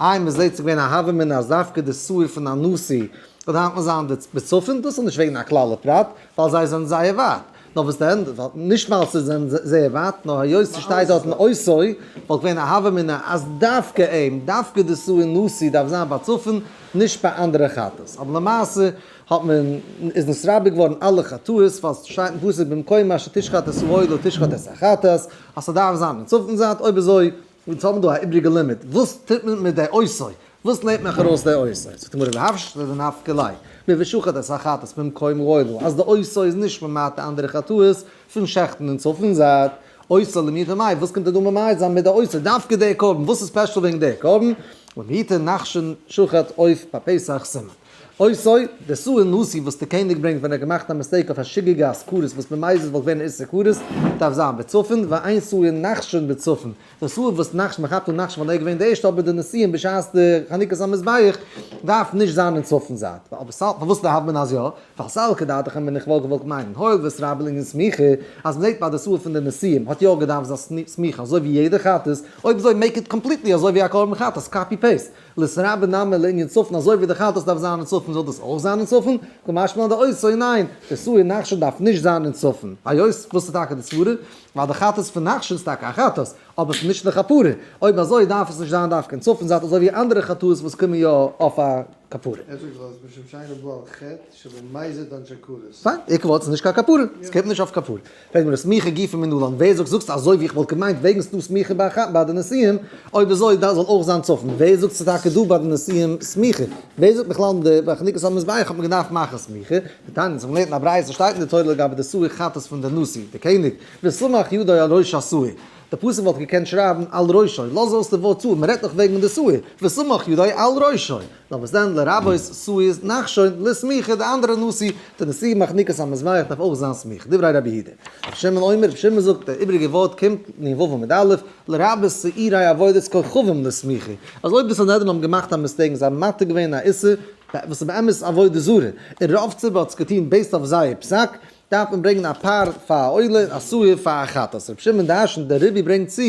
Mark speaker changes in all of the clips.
Speaker 1: איי מען זעהט ס'געווען א הוה מינא אז דווקא די סוער פון א נשיא וועט היינט נאך זיין בצפון דאס איז נישט וועגן א כלל הפרט ווייל זיי זענען זייער ווייט נאר וואס די ענדע נישט ווייל ס'זענען זייער ווייט נאר היות ס'שטייט דארט אן אויסוי וואלט געווען א הוה מינא אז דווקא אים דווקא די סוער נשיא דארף זיין ביי צפון נישט ביי אנדערע כתות אבער למעשה האט מען איז נתרבה געווארן אלע כתות ווייל ס'שטייט אין פסוק במקומה שתשחט את סוער לא תשחט את החתת אז ס'דארף זיין אין צפון זייט אויב אזוי יעצט האבן מיר דא א איבריגע לימוד, וואס טוט מען מיט די עושי? וואס נעמט מען ארויס די עושי? זאגט די גמרא והפשט איז נפק ל, מי ושחט את החטאת ממקום גואלו, אז די עושי איז נישט ממעט די אנדערע חטאות פון שעכטן און צאפן זייד. עושי למי ומאי, וואס קומט ער דא ממעט זיין מיט די עושי? דווקא די קרבן, וואס איז ספעשל וועגן די קרבן? ומי ייתן נחשון שחט עוף ביי פסח סימן. אוי סוי, די סוער נושא וואס די קעניג ברענגט ווען ער האט געמאכט א מיסטעיק אויף א שגגה אז כרת וואס ממאיז עס וואלט געווען איסור כרת, דארף זיין בצפון, ואין סוער נחשון בצפון, די סוער וואס נחש מען כאפט אן נחשון ווייל ער איז געווען די ערשטע אבער די נושאים בשעת די חנוכת המזבח דארף נישט זיין אין צפון זייט. אבער סאלק פארוואס דארף מען אז יא? ווייל סאלק כדעתך האב מיר נישט וואלט געוואלט מיינען הויל וואס רב אין לענין סמיכה אז מען זעט ביי די סוער פון די נושאים האט יא געדארפט זיין סמיכה אזוי ווי יעדע חתס, אויב אזוי מעיק איט קאמפליטלי אזוי ווי א קרבן חתס, קאפי פעיסט. לשרה בנמר לענין צפון, אזוי ווי די חתס דארף זיין אין צפון זאל דאס אויך זיין אין צפון, כמשמע אז די עושה ניין, עשוי אין נחשון דארף נישט זיין אין צפון, היות וואס איז טאקע די סברה? ווייל די חתס פון נחשון איז טאקע א חתס, אבער עס איז נישט לכפרה, אויב אזוי דארף עס נישט זיין דווקא אין צפון זייט אזוי ווי אנדערע חטאות וואס קומען יא אויף א כפרה. אפשר זאל עס משום שאין לו בו על חטא? שבין מייזער דיין טשאקאלעס. פיין, איך וואלט ס'איז נישט קיין כפרה, ס'קומט נישט אויף כפרה. פרעגט מען סמיכה גופא מנלן, ווער זאגט זאגסט אזוי ווי איך וואלט געמיינט וועגן ס'דא סמיכה ביי די נשיאים, אויב אזוי דארף זאל אויך זיין צפון, ווער זאגט ס'איז טאקע דא ביי די נשיאים סמיכה, ווער זאגט בכלל ביי חנוכת המזבח האט מען געדארפט מאכן סמיכה, די תניא זיך מ'לערנט אין א ברייתא שטייט אין די תורה לגבי די סוה כ פון די נשיא, די קעניג, וסמך ידו על ראש הסוה, די פסוק וואלט געקענט שרייבן על ראשו, לאז אויס די ווארט סוה, מ'רעדט דאך וועגן די סוה, וסמך ידו על ראשו. לאמיר זען לרבות סוער'ס נחשון לסמיכה די אנדערע נושא די נושא מחניקת המזבח דארף אויך זיין סמיכה דברי רבי יהודה רבי שמעון אומר רבי שמעון זאגט די איבריגע ווארט קומט נ ו עמוד א' לרבות סוערי עבודת כוכבים לסמיכה אז אויב די סנהדרין האבן געמאכט א מיסטעיק און זיי האבן מעתיק געווען א איסור וואס איז באמת עבודה זרה און רוב ציבור האט עס געטון בעיסד אויף זייער פסק דארף מען ברענגען א פר פאר א עולה און א שעור פאר א חטאת. רבי שמעון דער אשן דער רבי ברענגט צו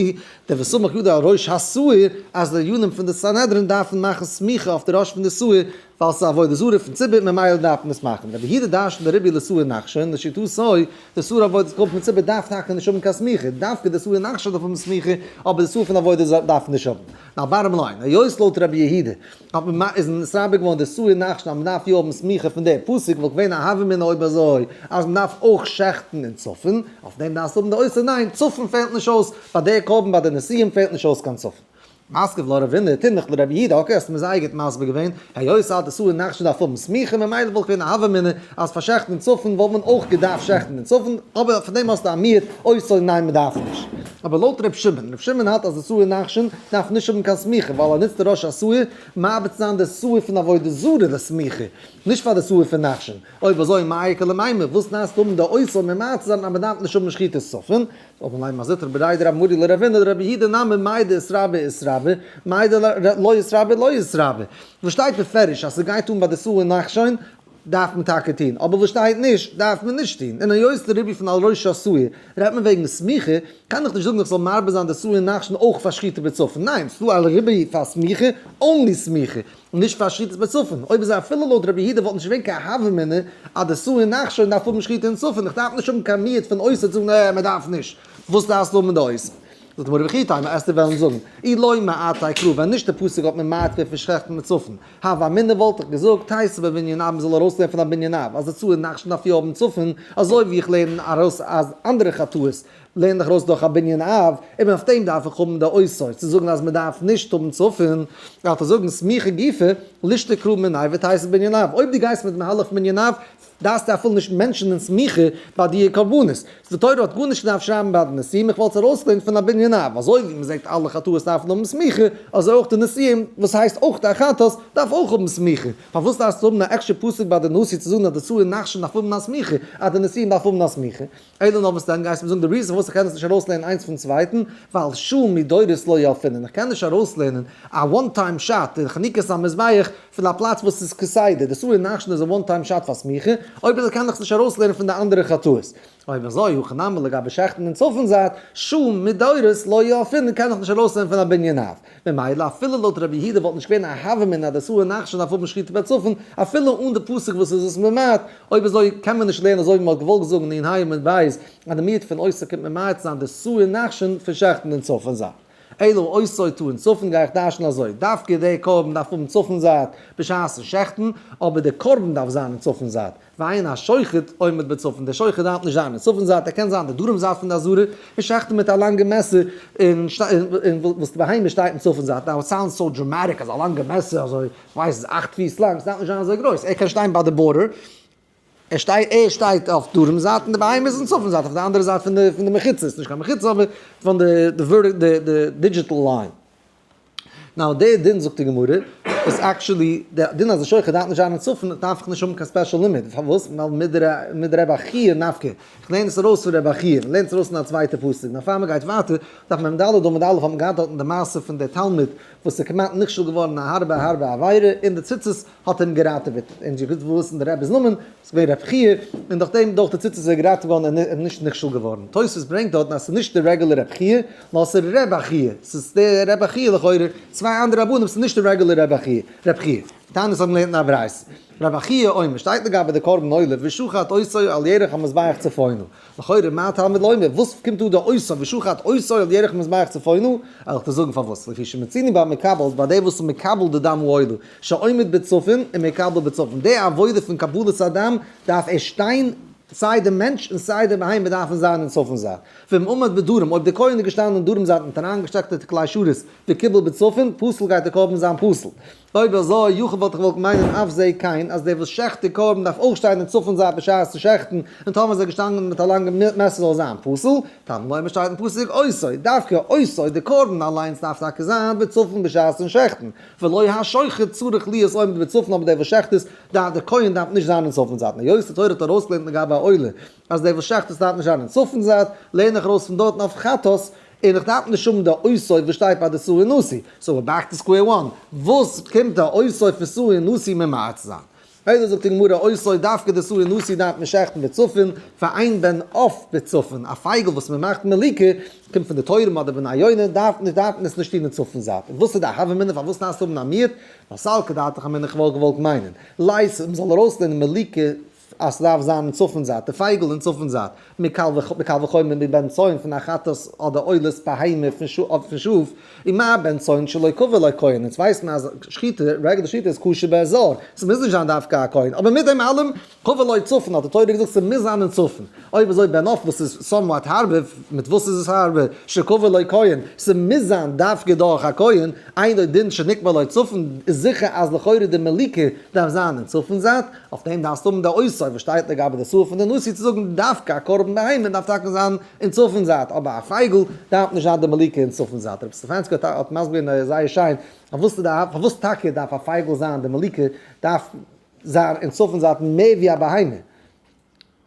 Speaker 1: דער וסמוך ידו על ראש השעור אז די דיינים פון די סנהדרין דארפן מאכן סמיכה אויף די ראש פון די שעור ווייל ס'איז עבודה זרה פון ציבור ממילא דארף מען עס מאכן. רבי יהודה דער אשן דער רבי לשעור נחשון לשיטתו די שעור אויף וואס קומט פון ציבור דארף טאקע נישט האבן קיין סמיכה דווקא די שעור נחשון דארף האבן סמיכה אבער די שעור פון עבודה זרה דארף נישט האבן. א ווארעם ליין. היות לויט רבי יהודה האט מען מ איז מסביר געווארן די סוער נחשון אז מ'דארף יא האבן סמיכה פון דער פסוק וואלט געווען א הוה מינא אויב אזוי אז מ'דארף אויך שעכטן אין צפון, אויף דעם דארפסטו האבן די אוסר ניין צפון פעלט נישט אויס ביי דער קרבן ביי די נסים פעלט נישט אויס קיין צפון. מסכת ולא רבינא, תומך לרבי יהודה, אקעי האסט מיר זייער גוט מסביר געווען. היות אז די סוער נאך נישט דארף האבן סמיכה ממילא וואלט געווען א הוה אמינא אז פאר שעכטן צפון וואלט מען אויך געדארפט שעכטן אין צפון, אבער פון דעם האסטו א מיעוט אויסזאג ניין מען דארף נישט. אבער לויט ר' שמעון, ר' שמעון האלט אז די סוער נחשון דארף נישט האבן קיין סמיכה ווייל ער נוצט די ראש הסוער מעביר צו זיין די סוער פון עבודה זרה די סמיכה, נישט פאר די סוער פון נחשון, אויב אזוי מאי קא למימר, וואס נייעס צו האבן די אויסזאג ממעט צו זיין אז מען דארף נישט האבן שחיטת צפון? אבער מיין מזוטר בריי דרא מרי ל רבינו דרבי הידא נאמן מאי דאיסרא באי איסרא ו מאי דלא איסרא באי לא איסרא ו וואס שטייט בפירוש אז סגייט אן ביי די סוער נחשון דארף מען טאקע טון אבער וואס שטייט נישט דארף מען נישט טון און היות די רבי פון על ראש הסוער רעדט מען וועגן סמיכה קען איך נישט זאגן איך זאל מרבה זיין די סוער נחשון אויך פאר שחיטה בצפון ניין ס'דא א רבי פאר סמיכה אנלי סמיכה און נישט פאר שחיטת בצפון, אויב איז אפילו לויט רבי יהודה וואלט נישט געווען קיין הווא אמינא אז די סוער נאך שוין דארף האבן שחיטה אין צפון, איך דארף נישט האבן קיין מיעוט פון אויסער צו זאגן עה מען דארף נישט, וואס דארפסטו האבן אין די אויסער? זאגט די גמרא וכי תימא עסטו וועלן זאגן אי לוי מאתאי קרא ווען נישט די פסוק האט מען מתיר פון שחט'ן אין צפון, הווא אמינא וואלט איך געזאגט תעשה בבניין אב מען זאל ארויסלערנען פון א בנין אב אז די סוער נאך שוין דארף יא האבן צפון, אזוי ווי איך לערן ארויס אז אנדערע חטאות לערן דיך ארויס דורך א בנין אב, און אויף דעם דארף איך האבן די אויסויז צו זאגן אז מען דארף נישט האבן צפון, דארף איך זאגן סמיכה גופא, לישטא קרא מיני וועט הייסן בנין אב, אויב דו גייסט מיט מהלך מנין אב דארפסטו אפילו נישט מענטשענען סמיכה ביי דיע קרבנות, די תורה האט גארנישט געדארפט שרייבן ביי די נסים, איך וואלט עס ארויסגעלערנט פון א בנין אב, אזוי ווי מען זעגט אלע חטאות דארפן האבן סמיכה, אזוי אויך די נסים, וואס הייסט אויך א חטאת, דארף אויך האבן סמיכה, פארוואס דארפסטו האבן א עקשטער פסוק ביי די נסים צו זאגן אז די צאר און נחשון דארף האבן א סמיכה, אז די נסים דארף האבן א סמיכה? איידער נאר מסתיים גייסטו מיר זאגן די ריזן פארוואס איך קען עס נישט ארויסלערנען איינס פון צווייטן, ווייל שום מדורות לא יאפינען, איך קען נישט ארויסלערנען א וואן טיים שאט אין חנוכת המזבח פון א פלאץ וואס איז כסדר, די סורי נחשון איז א וואן טיים שאט פאר סמיכה, אויב אזוי קען איך עס נישט ארויסלערנען פון די אנדערע חטאות. אויב אזוי הכא נמי לגבי שעכטן אין צפון זייט, שום מדורות לא יאפינען קען איך נישט ארויסלערנען פון א בנין אב, ממילא אפילו לויט רבי יהודה וואלט נישט געווען א הוה מינא די סוער נחשון דארף האבן שחיטה בצפון, אפילו אן די פסוק וואס איז עס ממעט, אויב אזוי קען מען נישט לערנען אזוי ווי מען האט געוואלט זאגן אין הי עמוד ב' אז די מיעוט פון עושר קומט ממעט זיין די סוער נחשון פון שעכטן אין צפון זייט. אלא עושר טו אין צפון גיי איך דרש'ן אזוי, דווקא דער קרבן דארף האבן צפון זייט בשעת'ן שעכטן, אבער דער קרבן דארף זיין אין צפון זייט. ועיין השוחט עומד בצפון, דער שוחט דארף נישט זיין אין צפון זייט, ער קען זיין די דרום זייט פון די אזהרה, און שחט'ן מיט א לאנגע מעסער, און וואס די בהמה שטייט אין צפון זייט, נאו איט סאונדס סאו דראמאטיק אז א לאנגע מעסער אזוי, כ'ווייס ס'איז אכט פיס לאנג, ס'דארף נישט זיין אזוי גרויס, ער קען שטיין ביי די בארדער, ער שטייט אויף דרום זייט און די בהמה איז אין צפון זייט אויף די אנדערע זייט פון די מחיצה, ס'איז נישט קיין מחיצה אבער פון די דידזשיטעל ליין. נאו דעי דין זאגט די גמרא איז עקטשולי די דין אז די שוחט דארף נישט זיין אין צפון דארף איך נישט האבן קיין ספעשל לימוד פארוואס ווייל מיט ר' חי' נפקא איך לערן עס ארויס פון ר' חי' מען לערנט עס ארויס אין א צווייטע פסוק נאר פאר מען גייט ווייטער דארף מען ד' אמוד א' האט מען געהאט דארטן די מעשה פון די תלמיד וואס איז כמעט נכשל געווארן א הארבע הארבע עבירה און די ציצית האט אים געראטעוועט און זיך געוואוסט אין די רב'ס נאמען וואס איז געווען רב חייא און דורך דעם דורך די ציצית איז ער געראטעוועט געווארן און איז נישט נכשל געווארן. תוספות ברענגט דארטן אז עס איז נישט די רעגולער רב חייא נאר עס איז ר' בחייא, עס איז די ר' בחייא לכאורה צוויי אנדערע רבנים עס איז נישט די רעגולער רב חייא. תענית האבן געלערנט אין א ברייתא ר' בחייא אומר שטייט לגבי די קרבן עולה ושחט עושו על ירך המזבח צפונו לכאורה מה הטעם ולא אומר, וואס קומט דא די עושה ושוחט עושה על ירך מזבח צפונו, ער האט געזאגן פארוואס, לפי שמציני ביי מקבל'ס ביי די וואס איז מקבל די דם הועילו שעומד בצפון און מקבל בצפון די עבודה פון קבלת הדם דארף ער שטיין סיי די מענטש און סיי די בהמה דארפן זיין אין צפון זייט, ואם עמד בדרום אויב די כהן איז געשטאנען אין דרום זייט מיט אריינגעשטעקטע תקלי שרית וקיבל בצפון פסול גייט די קרבן זיין פסול, אויב אזוי יכול וואלט איך געוואלט מיינען אויף זיי קיין אז דער וואס שעכט די קרבן דארף אויך שטיין אין צפון זייט בשעת צו שעכטן, און טאמער איז ער געשטאנגען מיט א לאנגע מעסער זאל ער זיין פסול, טאמער לוימער שטייט אין פסוק עושי, דווקא עושי, די קרבן אליינס דארף טאקע זיין בצפון בשעת צו שעכטן, ולא השוחט צריך להיות עומד בצפון אבער דער וואס שעכט עס דארף דער כהן דארף נישט זיין אין צפון זייט היות די תורה האט ארויסגעלערנט לגבי א עולה, אז דער וואס שחט'ט דארף נישט זיין אין צפון זייט, לערן איך ארויס פון דארטן אויף חטאת, און איך דארף נישט האבן די אויסויף וואס שטייט ביי די סוער נשיא. סאו ווער בעק טו סקווער וואן. וואס קומט די אויסויף פון סוער נשיא ממעט צו זיין? אויב זאגט די גמרא אויסויף דווקא די סוער נשיא דארף מען שחט'ן בצפון, פאר איין בן עוף בצפון, א פייגל וואס מען מאכט מיליקע, קומט פון די טורעם אדער בניונה, דארף מען דארף מען עס נישט טון אין צפון זייט. און וואס איז די הווא מינא פארוואס דארפסטו האבן א מיעוט? נאר סלקא דאתך אמינא כ'וואלט געוואלט מיינען. לייז אים זאל ארויסלערנען מיליקע אז ס'דארף זיין אין צפון זייט, די פייגל אין צפון זייט, מקל וחומר מבין צאן פון א חטאת אדער עולת בהמה פון שאף, און מה בין צאן שלא קבע לו כהן, אונז ווייסט מען אז שחיטה, רגע די שחיטה איז כשר באזור, ס'מוז נישט זיין דווקא א כהן, אבער מיט דעם אלעם, קבע לו צפון, האט די תורה געזאגט ס'מוז זיין אין צפון, אויב אזוי בין עוף וואס איז סאמוואט הארבע, מיט וואס איז עס הארבע, שקבע לו כהן, ס'מוז זיין דווקא דורך א כהן, אינו דין שנקבע לו צפון, איז זיכער אז לכאורה די מליקה דארף זיין אין צפון זייט, אויף דעם דארפסטו האבן די אויסזאג וואס שטייט לגבי די סוף פון די נושא צו זאגן דווקא א קרבן בהמה דארף טאקע זיין אין צפון זייט אבער א פייגל דארף נישט זיין די מליקה אין צפון זייט. רבי סטעפאנסקי האט מסביר געווען זייער שיין פארוואס טאקע דארף א פייגל זיין די מליקה דארף זיין אין צפון זייט מער ווי א בהמה.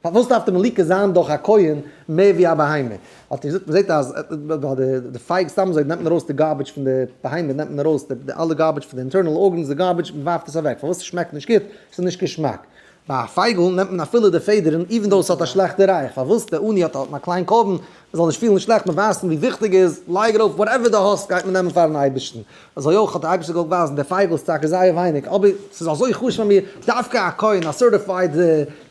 Speaker 1: פארוואס דארף די מליקה זיין דורך א כהן מער ווי א בהמה? האט ער געזאגט, מ'זעט אז די פייג סתם אזוי נעמט מען ארויס די גארביטש פון די בהמה, נעמט מען ארויס די אלע גארביטש פון די אינטערנעל ארגענס, די גארביטש, מען ווארפט עס אוועק, פארוואס עס שמעקט נישט גוט? עס איז נישט געשמאק. ביי א פייגל נעמט מען אפילו די פעדערן, איווען דאו עס האט א שלעכטע רייך, פארוואס די עני האט א קליין קרבן מ'זאל נישט פילן שלעכט מיט ווייזן ווי וויכטיג איז, לייג ארויף וואטעווער די האסט גייט מען נעמען פארן אייבערשטן, אזוי אויך האט דער אייבערשטער געוואלט ווייזן די פייגל איז טאקע זייער ווייניג אבער ס'איז אזוי חשוב אז מיר דווקא א כהן א סערטיפייד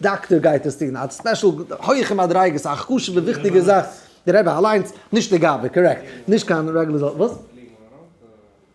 Speaker 1: דאקטער גייט עס טון, א ספעשל הויכע מדריגות א חשובע וויכטיגע זאך, דער רבי אליינס, נישט די גאוה, קארעקט, נישט קיין רעגולער זאל, וואס?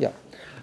Speaker 1: יא.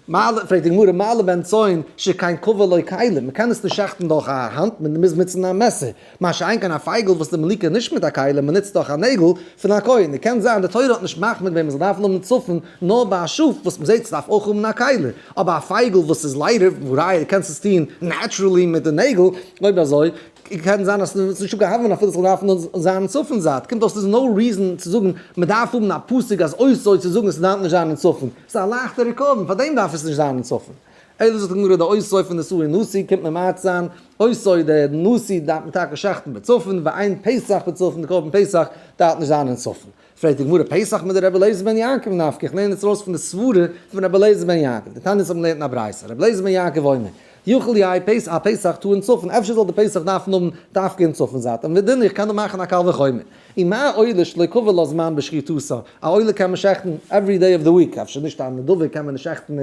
Speaker 1: מעלה, פרעגט די גמרא, מעלה בין צאן שכן קובע לו כלים, מען קען עס נישט שעכטן דורך א האנט, מען מוז נוצן א מעסער, מה שאין כן א פייגל וואס איז מלקה נישט מיט א כלים, מען נוצט דאך א נעגל פון א כהן, און קען זיין די תורה האט נישט מחמיר געווען מען זאל דארפן האבן צפון, נאר ביי א שאף וואס מען זעט ס'דארף אויך האבן א כלים, אבער א פייגל וואס איז ליידער, והא ראיה דו קענסט עס טון נעטשרעלי מיט די נעגל, אויב אזוי קען זיין אז ס'איז נישט געהאט ווען אפילו ס'זאל דארפן דארט זיין אין צפון זייט, קומט אויס ס'איז נאו ריזען צו זאגן מ'דארף האבן א פסק אז אויסער צו זאגן עס דארף נישט זיין אין צפון, ס'איז א לייכטע ריקאווען פאר דעם דארף עס נישט זיין אין צפון. אלא זאגט די גמרא די אויסער פון די סוער נושא קומט ממעט זיין, אויסער די נושא דארף מען טאקע שחט'ן בצפון, ועיין פסח בצפון די קרבן פסח דארף נישט זיין אין צפון. פרעגט די גמרא, פסח מיט די רבי אליעזר בן יעקב נפקא, איך לערן יעצט ארויס פון די סברה פון רבי אליעזר בן יעקב, די תנית האבן געלערנט אין א ברייתא, רבי אליעזר בן יעקב אומר, יאכל יי פס א פסח טאר אין צפון, אפשר זאל די פסח דארפן האבן דווקא אין צפון זייט, און ודין איך קען דאך מאכן א קל וחומר, און מה עולה שלא קבע לו זמן בשחיטותו, א עולה קען מען שעכטן עווערי דעי אוו די וויק, אפשר נישט א נדבה קען מען נישט שעכטן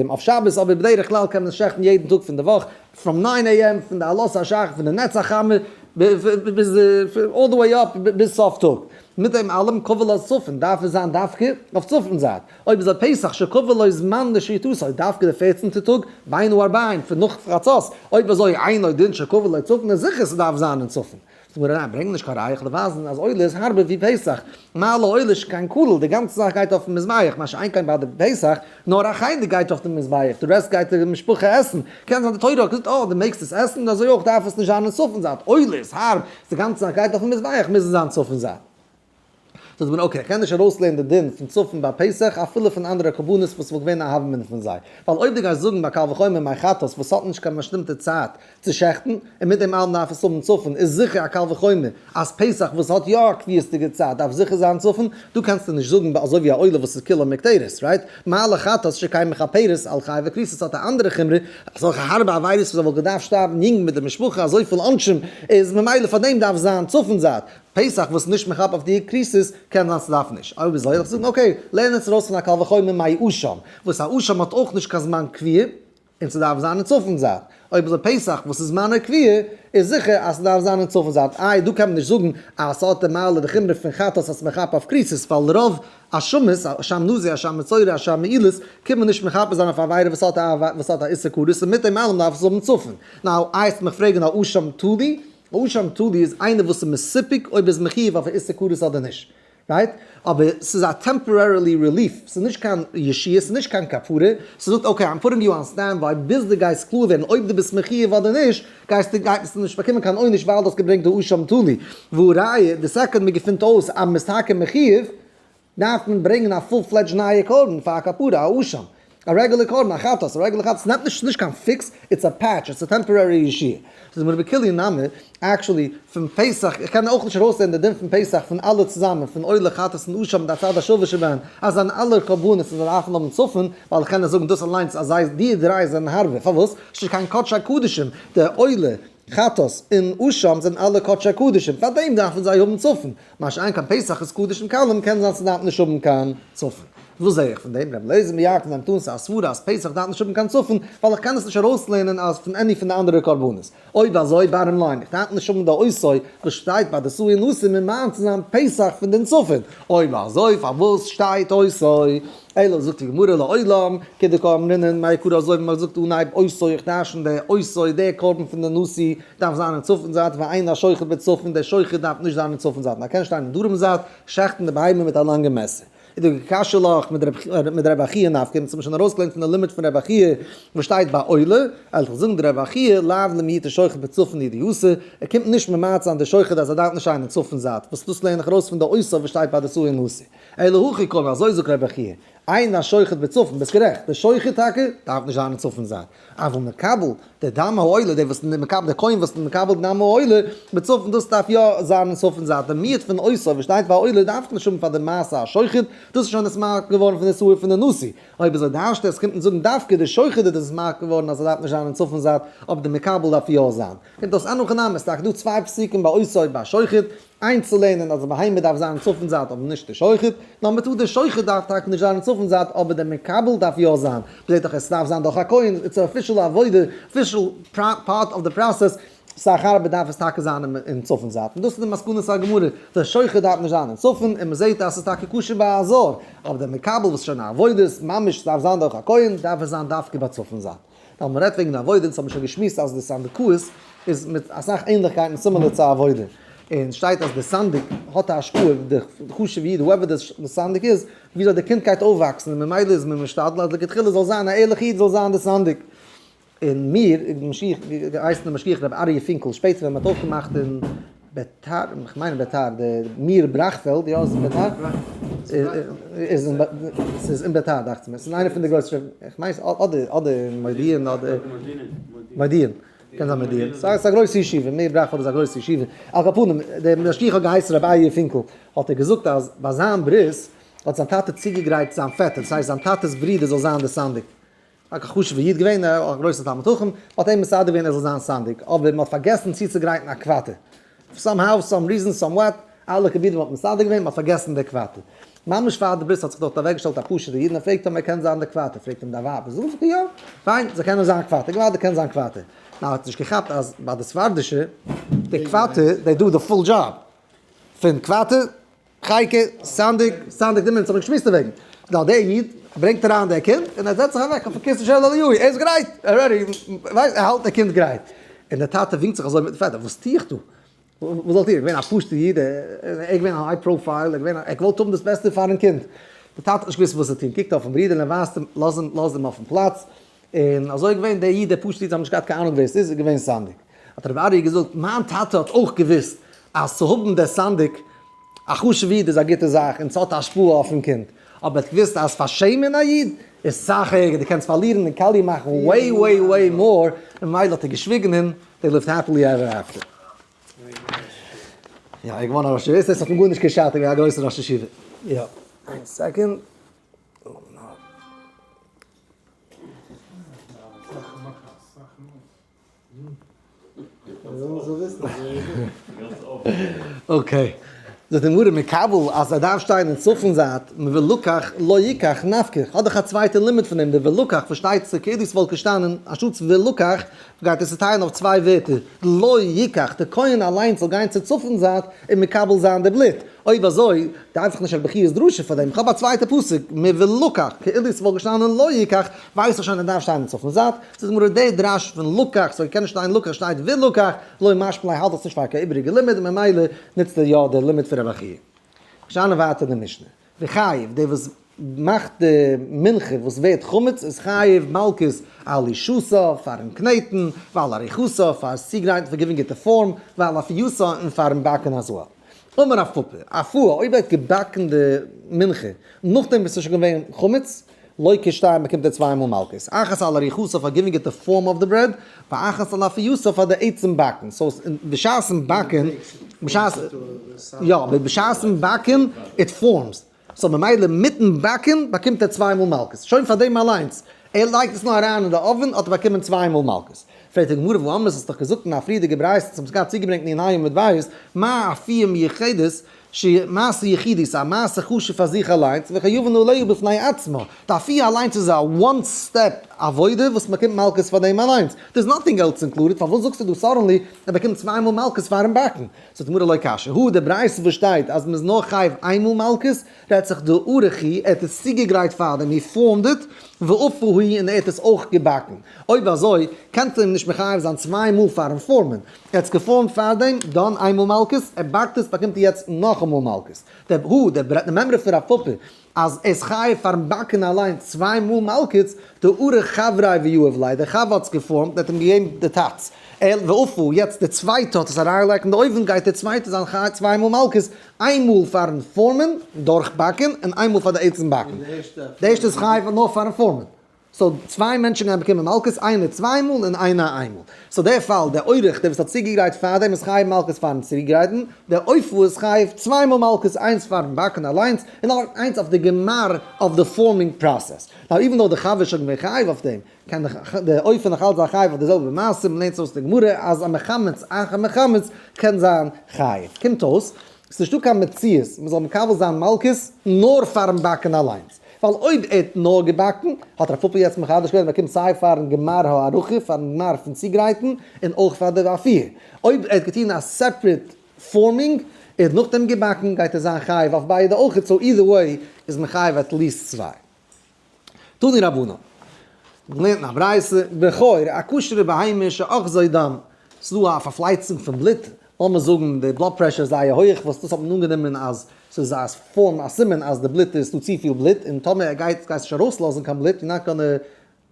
Speaker 1: אויף שבת, אבער בדרך כלל קען מען עס שעכטן יעדן טאג פון די וואך, פראם ניין עי עם פון די עלות השחר פון די נץ החמה ביז אלל די וועי אפ ביז סוף טאג, מיט דעם אלעם קבלת צופן דארף עס זיין דווקא אויף צופן זייט, אויב איז א פסח שקבע לו זמן לשעיתותו דווקא די פערצענטע טאג בין ארבעים פון נאך חצות, אויב אזוי אינו דין שקבע לו צופן איז זיכער ס'דארף זיין אין צופן, זאג מיר אריין, ברענג נישט קיין ראיה איך וועל ווייזן אז עולה איז הארבער ווי פסח, מה לא עולה שכן כולל, די גאנצע זאך גייט אויפן מזבח, מה שאין כן ביי די פסח, נאר א חלק גייט אויף די מזבח, די רעסט גייט די משפחה עסן, קען זיין די תורה האט געזאגט אה די מעגסט עס עסן און אזוי אויך דארף עס נישט זיין אין צפון זייט, עולה איז הארב, די גאנצע זאך גייט אויפן מזבח מוז עס זיין צפון זייט. זאגט מען אקעי איך קען נישט ארויסלערנען די דין פון צאפן ביי פסח אפילו פון אנדערע קרבנות וואס וואלט געווען א הווא אמינא פון זיי, ווייל אויב דו גייסט זאגן ביי קל וחומר מיין חטאת וואס האט נישט קיין באשטימטע צייט צו שעכטן און מיט דעם אלעם דארף עס האבן צאפן איז זיכער א קל וחומר אז פסח וואס האט יא א קביעות'דיגע צייט דארף זיכער זיין צאפן, דא קענסטו נישט זאגן ביי אזוי ווי א עולה וואס איז כולו מקטרת, רייט? מעלה חטאת שקיין מכפרת על חי וכריסת האט א אנדערע חומרא, אזעלכע הארבע עבירות וואס ער וואלט געדארפט שטארבן יונג מיט די משפחה אזויפיל עונשים איז ממילא פאר דעם דארף זיין צאפן זייט. פסח וואס נישט מכפר אויף די קריסעס, קען זיין ס'דארף נישט, אויב אזוי וועל איך זאגן אקעי, לערן עס ארויס פון א קל וחומר מאי אשם, וואס א אשם האט אויך נישט קיין זמן קביעה, און ס'דארף זיין אין צפון זייט, אויב אזוי פסח וואס איז זמנו קביעה, איז זיכער אז ס'דארף זיין אין צפון זייט, איי דא קען מען נישט זאגן אז ס'האט די מעלה וחומרא פון חטאת אז ס'מכפר אויף קריסעס, ווייל רוב אשמות, אשם נזיר, אשם מצורע, אשם מעילות, קען מען נישט מכפר זיין אויף א עבירה וואס האט א איסור כרת, און מיט דעם אלעם דארף עס האבן צפון, נאו, איי עסט מיך פרעגן א אשם תלי? ראשון תלוי איז איינער וואס איז מסופק אויב ער איז מחיוב אויף א איסור כרת אדער נישט, רייט? אבער ס'איז א טעמפארערילי רעליף, ס'איז נישט קיין ישועה, ס'איז נישט קיין כפרה, ס'זאגט אקעי איים פוטינג יו אן סטענד ביי ביז דו גייסט קלאר ווערן אויב דו ביסט מחיוב אדער נישט, גייסטו גייט עס נישט באקומען קיין עונש ווייל דו האסט געברענגט די ראשון תלוי, והא ראיה די סעקאנד מען געפינט אויס אז מען איז טאקע מחיוב, דארף מען ברענגען א פול פלעדזש נייע קרבן פאר א כפרה, א אשם, א רעגולער קרבן, א חטאת, א רעגולער חטאת, ס'נעמט נישט, ס'נישט קיין פיקס, איטס א פעטש, איטס א טעמפארערי אישי. ס'איז מיר בכליון נמי, עקשעלי, פון פסח, איך קען אויך נישט ארויסהערן די דין פון פסח פון אלע צוזאמען, פון עולה, חטאת און אשם מיט א צד השווה שבהן, אז זיין אלע קרבנות און זיי דארפן האבן צפון, ווייל איך קען נישט זאגן דאס אליינס אז זיי, די דריי זענען הארבער, פארוואס? ס'נישט קיין קדשי קדשים, די עולה, חטאת און אשם זענען אלע קדשי קדשים, פארדעם דארפן זיי האבן צפון, מה שאין כן פסח איז קדשים קלים, קען זיין ס'דארף נישט האבן קיין צפון. וואס זע איך פון דעם? רבי אליעזר מירקין זיין טענה צו א סברא אז פסח דארף נישט האבן קיין צפון, ווייל איך קען עס נישט ארויסלערנען אז פון עני פון די אנדערע קרבנות. אויב אזוי, בארעם ליין, איך דארף נישט האבן די עשוי וואס שטייט ביי די סוי און אסור ממען צו זיין פסח פון דעם צפון. אויב אזוי, פארוואס שטייט עשוי? אלא זאגט די גמרא לעולם כדקה אמרינן מאי קרא אזוי ווי מען האט געזאגט אנהייב עשוי איך טיישן די עשוי דער קרבן פון די נשיא דארף זיין אין צפון זייט ואין השוחט בצפון דער שוחט דארף נישט זיין אין צפון זייט נאר קען שטיין אין דרום זייט שחט'ן די בהמה מיט א לאנגע מעסער איז דא קשיא לאך מיט די רבי חייא נפקא מ'האט עס שוין ארויסגעלערנט פון די לימוד פון רבי חייא וואס שטייט ביי עולה אלך זאגן די רבי חייא לאו למהיט השוחט בצפון לידי עשוי ער קומט נישט ממעט זיין די שוחט אז ער דארף נישט שטיין אין צפון זייט וואס דאס לערן איך ארויס פון די עשוי וואס שטייט ביי די סוה נשיא. אלא הכי קמא, אזוי זאגט רבי חייא, עיין השוחט בצפון, ביסט גערעכט, דער שוחט טאקע דארף נישט זיין אין צפון זייט, אבל מקבל די דם העולה, דער וואס מקבל דער כהן וואס מקבל די דם העולה בצפון דאס דארף יא זיין אין צפון זייט, דער מיעוט פון עושה וואס שטייט ביי עולה דארף נישט האבן פאר די מעשה השוחט, דאס איז שוין נישט מאריך געווארן פון איסור פון די נשיא, אויב איז ער דארשט עס קומט מען זאגן דווקא דער שוחט איז דאס מאריך געווארן אז ער דארף נישט זיין אין צפון זייט, אבער דער מקבל דארף יא זיין, קומט אויס אן הכי נמי, ס'איז טאקע דא צוויי פסוקים ביי עושה און ביי שוחט, איינצולערנען אז די בהמה דארף זיין צפון זייט אבער נישט די שוחט, נאר מ'טוט די שוחט דארף טאקע נישט זיין אין צפון זייט אבער די מקבל דארף יא זיין, מ'זעט דאך עס דארף זיין דורך א כהן, איטס א אפישעל עבודה, אפישעל פארט אוו די פראסעס, סך הכל דארף עס טאקע זיין אין צפון זייט, און דאס איז די מסקנות הגמרא, די שוחט דארף נישט זיין אין צפון, און מ'זעט אז ס'איז טאקע כשר ביי א זר, אבער די מקבל וואס איז שוין א עבודה ממש דארף זיין דורך א כהן, דארף עס זיין דווקא ביי צפון זייט. ווייל מ'רעדט וועגן א עבודה, דאס האט מען שוין געשמועסט אז די סנדקאות איז מיט אסאך ענליכקייטן סימילער צו א עבודה, און שטייט אז די סנדק האט א השפעה אויף די חשוב'ע איד הועווער די סנדק איז, ווי זאל די קינד גייט אויפוואקסן און ממילא איז מען משתדל אז לכתחילה זאל זיין א ערליכע איד זאל זיין די סנדק. און מיר, משיח, געהייסן דער משגיח רבי אריה פינקל, שפעטער ווען מ'האט אויפגעמאכט אין. ביתר, איך מיין ביתר, די מיר בראכפעלד, יא איז אין ביתר? מיר בראכפעלד? איז אין ס'איז אין ביתר דאכט מיר, ס'איז איינע פון די גרויסע, איך מיין ס'איז אדער אדער אין מודיעין אדער, מודיעין, קען זיין מודיעין, ס'איז א גרויסע ישיבה, מיר בראכפעלד איז א גרויסע ישיבה, על כל פנים, דער משגיח האט געהייסן רבי אריה פינקל, האט ער געזאגט אז ביי זיין ברית האט זיין טאטע צוגעגרייט זיין פעטער, ס'הייסט זיין טאטע'ס ברודער זאל זיין דער סנדק. א חשוב'ע איד געווען, א גרויסע תלמיד חכם, מען האט אים מסדר געווען ער זאל זיין סנדק, אבער מען האט פארגעסן צוצוגרייטן א קוואטער, סאם האו, סאם ריזען, סאם וואט, אלע קבילים האט מען מסדר געווען, מען האט פארגעסן די קוואטער. ממש פאר די ברית האט זיך דארט אוועק געשטעלט א פשוט'ע איד און ער פרעגט אים ער קען זיין די קוואטער, פרעגט אים דיין ווייב, זאגט זי יא, פיין, זיי קענען זיין קוואטער, געוואלדיג קען זיין קוואטער. נאר ער האט נישט געכאפט אז ביי די ספרדישע, די קוואטער, דעי דא די פול דזשאב פון קוואטער, חייקע, סנדק, סנדק די מינץ האב איך געשמועסט דערוועגן. נו, דער איד ברענגט אריין דער קינד און ער זעצט זיך אוועק אויפן קיסל של אליהו, ער איז גרייט, ער רעדי, ווייסט, ער האלט דער קינד גרייט. און דער טאטע ווינקט זיך אזוי מיטן פעדער, וואס טו איך דא? וואס זאל איך טון? איך בין א פשוט'ער איד, ער איז געווען א היי פראופייל, איך וואלט האבן דאס בעסטע פארן קינד. דער טאטע האט נישט געוואוסט וואס צו טון, קוקט אויפן ברודער און ער ווייזט אים, לאז אים, לאז אים אויפן פלאץ, און אזוי איז געווען, דער איד דער פשוט'ער איד האט נישט געהאט קיין אהנונג ווער עס איז, איז געווען סנדק. האט רבי אריה געזאגט, מיין טאטע האט אויך געוואוסט אז צו האבן דער סנדק א חשוב'ע איד איז א גוטע זאך און ס'האט א השפעה אויפן קינד, אבער ער האט געוואוסט אז פארשעמען א איד איז סאך ערגער, דו קענסט פארלירן דעם קאליר מאכן וועי וועי וועי מאר, ממילא האט ער געשוויגן און דעי ליווט העפילי עווער עפטער. יא, ער איז געווארן א ראש ישיבה, עס האט אים גארנישט געשאדט, ער איז געווען א גרויסער ראש ישיבה. יא, איין סעקונד. אקעי, זאגט די גמרא מקבל אז ער דארף שטיין אין צפון זייט, ולקח לא יקח נפקא, האט דאך א צווייטע לימוד פון דעם, די ולקח פארשטייט זיך כידוע ס'וואלט געשטאנען אנשטאטס ולקח גייט ער צוטיילן אויף צוויי ווערטער, לא יקח, דער כהן אליינס זאל גיין צו צפון זייט און מקבל זיין די בלוט, אויב אזוי דארף איך נישט א בכיות דרשה פאר דעם, איך האב א צווייטע פסוק מבין לקח, כאילו עס וואלט געשטאנען לא יקח, ווייס איך שוין ער דארף שטיין אין צפון זייט, זאגט די גמרא דער דרש פון לקח סוי קען נישט שטיין לקח שטייט וילקח, לא משמע ליה האלט עס נישט פאר קיין איבעריגע לימוד ממילא נוצט ער יא דער לימוד פון רבי חייא. שיינע ווארט אין די משנה. די חייב, דער וואס מאכט די מנחה וואס ווערט חמץ איז חייב מלקות על אישותו פארן קנעטן, ועל אריכותו פאר עס צוגרייטן פאר געווינס גוטע פארם, ועל אפיותו און פארן באקן א זוהר. אמר אפיו, אפי' אויב ער האט געבאקן די מנחה נאכדעם וואס עס איז שוין געווען חמץ, לויט ק ש באקומט ער צוויי מאל מלקות, אחת על אריכותו פאר גיווינג איט די פארם אוו די ברעד, ואחת על אפיותו פאר די עצם באקן, סאו בשעת'ן באקן, בשעת, יא, בשעת'ן באקן איט פארמס, סאו ממילא מיט'ן באקן באקומט ער צוויי מאל מלקות, שוין פאר דעם אליינס, ער לייגט עס נאר אריין אין די אויווען האט ער באקומען צוויי מאל מלקות, פרעגט די גמרא וואו אמר, האסט דאך געזאגט אין א פריערדיגע ברייתא, האסט געהאט צוגעברענגט מיר אין א י עמוד בית, מה אפי' מיוחדת, שהיא מעשה יחידי, ס'איז א מעשה חשוב פאר זיך אליינס, וכן יובן אליהו בפני עצמו, די אפי' אליינס איז א וואן סטעפ עבודה וואס מ'באקומט מלקות פאר דעם אליינס, דער'ס נאטינג עלס אינקלודעד, פארוואס זאגסטו דא סאדענלי ער באקומט צוויי מאל מלקות פאר'ן באקן? זאגט די גמרא לא קשיא הוא, די ברייתא וואס שטייט אז מ'איז נאר חייב איין מאל מלקות, רעדט זיך דא ארוך הי, ער האט עס צוגעגרייט פאר דעם, הי פארמד איט, ואף הוא הי און ער האט עס אויך געבאקן, אויב אזוי קענסטו אים נישט מחייב זיין צוויי מאל פאר'ן פארמען, ער האט עס געפאלן פארדעם, דאן איינמאל מלקות, ער באקט עס באקומט ער יעצט נאכאמאל מלקות. דער הו דער ברענגט א מעמרא פון רב פפא אז ער איז חייב פארן באקן אליין צוויי מאל מלקות, דער ארה ח ריי ויואב לייב דער חבר האט עס געפאלן, ער האט אים געגעבן די טאץ, ער ואפו יעצט דער צווייטע האט עס אריינגעלייגט אין די אויוון גייט דער צווייטע זיין חייב צוויי מאל מלקות, איינמאל פארן פארמען, דורך באקן, און איינמאל פאר די עצם באקן. דער ערשטע איז חייב נאר פארן פארמען. סאו צוויי מענטשן גייען באקומען מלקות, איינער צוויי מאל און איינער איין מאל. סאו דער פאל, דער אורח דער וואס האט צוגעגרייט פאר דעם איז חייב מלקות פארן צוגרייטן, דער עופות איז חייב צוויי מאל מלקות איינס פארן באקן אליינס און איינס אויף די גמר אויף די פארמינג פראסעס. נאו איווען דאו די חבר איז שוין געווען חייב אויף דעם, קען דער עופה נאכאלץ זיין חייב אויף די זעלבע מעשה, מען לערנט אויס די גמרא אז א מחמץ אחר מחמץ קען זיין חייב. קומט אויס, ס'איז נישטא קיין מציאות מען זאל מקבל זיין מלקות נאר פארן באקן אליינס. ווייל אויב ער האט נאר געבאקן, האט רב פפא יעצט מחדש געווען אז מען באקומט סיי פארן גמר הארוחה, פארן גמר פון צוגרייטן, און אויך פאר די ואפי'. אויב ער האט געטון א סעפרעט פארמינג, און נאכדעם געבאקן, גייט ער זיין חייב אויף ביידע אויך, סאו אידער וועי איז מען חייב עט ליעסט צוויי. תני רבנן. מ'לערנט אין א ברייתא, בכור, א כשר'ע בהמה שאחזי דם, ס'איז דא א פארפלייצונג פון בלוט, לאמיר זאגן די בלאד פרעשור איז זייער הויעך, וואס דאס האט מען אנגענומען אז ס'איז א פארם א סימן אז די בלוט איז דא צופיל בלוט, און טאמער ער גייט גייסט נישט ארויסלאזן קיין בלוט, יו נאט גאנע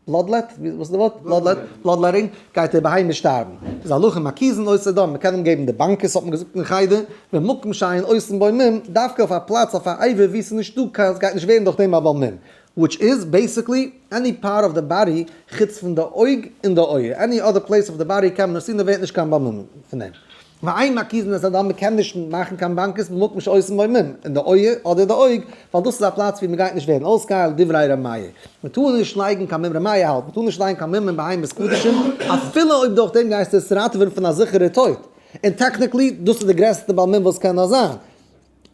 Speaker 1: בלאדלעט, ווי וואס איז די ווארט? בלאדלעט, בלאדלעטינג, גייט ער ב ה נישט שטארבן, איז הלכה מקיזין אויסער דאן מ'קען אים געבן די באנקעס האט מען געזאגט אין חדר, במקום שאין אויסן בוי מים, דווקא אויף א פלאץ אויף א עבר ווי ס'איז נישט דא קיין ס'גייט נישט ווערן דורך דעם א בוי מים, וויטש איז בעיסיקלי עני פארט אוו די באדי חוץ פון די אויג און די אויער, עני אדער פלעיס אוו די באדי קען מען עס טון עס ווערט נישט קיין באמ מ פון דעם, ואין מקיזין את האדם מען קען נישט מאכן קיין באנקעס מען מאגט נישט אויס באמ מ אין די אויער אדער די אויג ווייל דאס איז א פלאץ ווי מען גייט נישט ווערן אויסגעהיילט דברי ר' מאיר מען טאר נישט לייגן קיין באמ מ ר' מאיר האלט מען טאר נישט לייגן קיין באמ מ אין בהמות קדשים אפילו אויב דורך דעם גייסטו עס ראטעווען פון א זיכערע טויט און טעקניקלי דאס איז די גרעסטע באמ מ וואס קען נאר זיין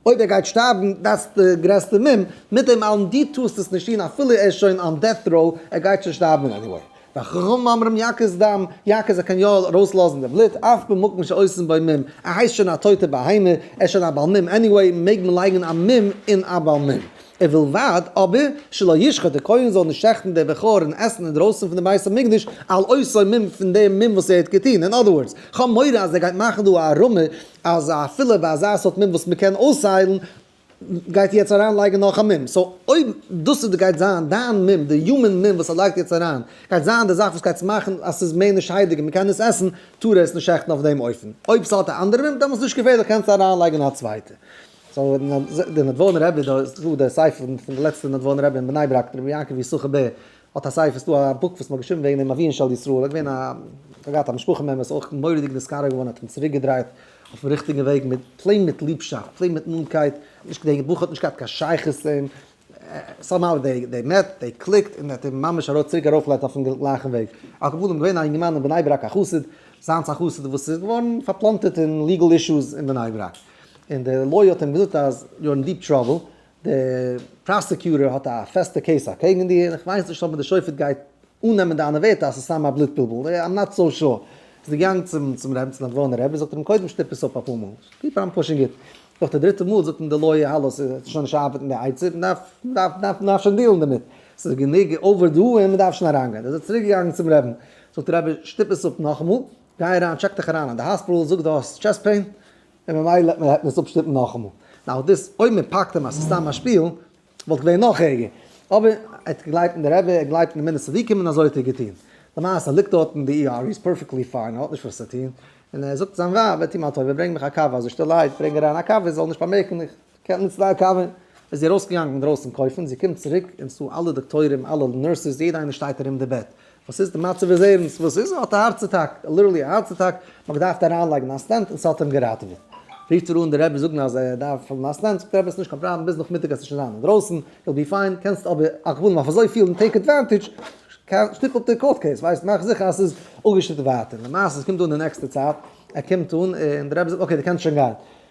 Speaker 1: אויב ער גייט שטארבן דאס די גרעסטע מום מיט דעם אלעם דו טוסט עס נישט טון אפילו ער איז שוין אן דעט ראו ער גייט שוין שטארבן עניוועי והחכמים אומרים יקיז דם יקיז ער קען יא ארויסלאזן די בלוט אף במקום שעושים בו מום ער הייסט שוין א טויטע בהמה ער איז שוין א בעל מום עניוועי מעג מען לייגן א מום אין א בעל מום ובלבד אבער שלא ישחט די כהן זאל נישט שעכטן די בכור און עסן אינדרויסן פון די בית המקדש על עושי מום פון דעם מום וואס ער האט געטון אין אדער ווארדס כ'האב מורא אז ער גייט מאכן דא א אראמע אז אפילו ביי אזא סארט מום וואס מ'קען אויסהיילן, גייט איר יעצט אריין לייגן נאך א מום. סאו אויב דאס איז גייט זיין דיין מום, די יומען מום וואס ער לייגט יעצט אריין, גייט זיין די זאך וואס גייט מאכן אז ס'איז מער נישט שיידיג און מ'קען עס עסן, טאר ער עס נישט שעכטן אויף דעם אופן. אויב ס'האט א אנדערע מום, דעמאלטס נישט געפערליך קענסטו אריין לייגן א צווייטע. סאו די נדבורנא רבי, דא איז דא די ספר פון די לעצטע נדבורנא רבי אין בני ברק, רבי יעקב יששכר בער, האט א ספר, ס'דא א בוק וואס מ'האט געשריבן וועגן דעם אביון של ישראל, ער איז געווען א, ער האט געהאט א משפחה מעמבער, ס'איז אויך מורא'דיג נשכר געווארן, האט אים צוריק געדרייט אויפן ריכטיגן וועג, מיט פלעין מיט ליבשאפט, פלעין מיט נאנטקייט, נישט די בוך האט נישט געהאט קיין שייכות צו אים, סאו מאו די די מעט די קליקט און האט אים ממש ארויף צוריק ארויף געלייגט אויפן גלייכן וועג, על כל פנים געווען א יונגערמאן אין בני ברק א חסיד, זיינס א חסיד וואס איז געווארן פארפלאנטערט אין ליגעל אישוס אין בני ברק, און די לויער האט אים געזאגט אז יו אר אין דיעפ טראבל, דער פראסעקיוטער האט א פעסטע קעיס אקעגן דיר, איך ווייס נישט אויב די שופט גייט אננעמען דיינע ווערטער אז ס'איז סתם א בלוט בלבול, איים נאט סאו שור. איז ער געגאנגען צום צום רב, צום נאדווארנער רב, און זאגט אים קודם שטופ עס אפ אפאר מאל, קיפ אן פושינג איט. נאך די דריטע מאל זאגט אים די לויער האלא ס'איז עס שוין נישט ארבעטן די עצה, מען דארף מען דארף מען דארף מען דארף שוין דילן דערמיט, ס'איז גענוג אווער דא און מען דארף שוין אריינגיין. איז ער צוריק געגאנגען צום רעבן, זאגט דער רבי שטופ עס אפ נאכאמאל, גיי אריין טשעק דיך אריין אין די האספיטעל, זאג די האסט טשעסט פעין, און ממילא העט מען העט מען עס אפשטופן נאכאמאל. נאו דאס אויב מען פאקט אים אז ס'איז סתם א שפיל, וואלט געווען נאך ערגער. אבער ער האט געגלייבט אין די רבי, ער גלייבט אין די מינע צדיקים און אזוי האט ער געטון. למעשה ליגט דארט אין די ER, איז פערפעקטלי פיין, ער האט נישט וואס צו טון, און ער זאגט זיין ווייב, טו מיר א טובה ברענג מיך א קאווע, אז איך שטילערהייט ברענג אריין א קאווע, זי זאל נישט באמערקן איך קען מען צוויי קאווע. איז זי ארויסגעגאנגען אינדרויסן קויפן, זי קומט צוריק און ס'דא אלע דאקטוירים, אלע נורסעס, יעדע איינער שטייט ארום די בעט, וואס איז די מצב איז ערנסט, וואס איז, ער האט א הארץ אטאק, ליטערלי א הארץ אטאק, מען האט געדארפט אריינלייגן א סטענט און ס'האט אים געראטעוועט, רופט ער אן די רבי זאגן אז ער דארף האבן א סטענט, זאגט די רבי ס'נישט קיין פראבלעם ביז נאכמיטאג עסט ער שוין זיין אינדרויסן, יו בי פיין, קענסט אבער אכט געבן אויף אזוי פיל און טעיק עדוואנטעדזש, שטיקל קאורט קעיס, ווייסט, מאך זיכער אז ס'איז אפגעשטופט ווייטער, למעשה ס'קומט אן די נעקסטע צייט, ער קומט אן און די רבי זאגט אקעי די קענסט שוין גיין,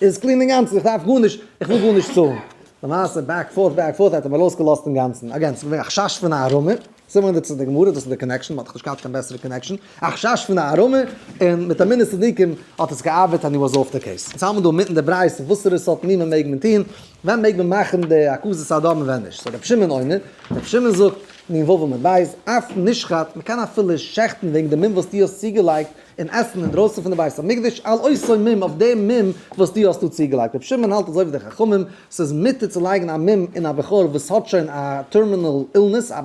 Speaker 1: איז קלין אינגאנצן, איך דארף גארנישט, איך וויל גארנישט צאלן. למעשה בעק פארט בעק פארט האט ער מיר אויסגעלאזט אינגאנצן. אגעין, ס'איז געווען א חשש פון א ארעמע, סימן דע צו די גמרא, דאס איז די קאנעקשאן, מ'האט דאך נישט געהאט קיין בעסערע קאנעקשאן, א חשש פון א ארעמע, און מיט אמונה צדיקים האט עס געארבעט ענד הי וואס אףף די קעיס. אונז האבן דא מיטן די ברייתא וואסערע סארט ענינים מעג מען טון, ווען מעג מען מאכן די הקזת הדם און ווען נישט. סאו רבי שמעון אומר, רבי שמעון זאגט, נ ו עמוד ב', אף נשחט, מ'קען אפילו שעכטן וועגן די מום וואס דו האסט צוגעלייגט, און עסן אינדרויסן פון די בית המקדש על אותו מום אויף דעם מום וואס דו האסט דא צוגעלייגט, רבי שמעון האלט אזוי ווי די חכמים, ס'איז מותר צו לייגן א מום אין א בחור וואס האט שוין א טערמינעל אילנעס, א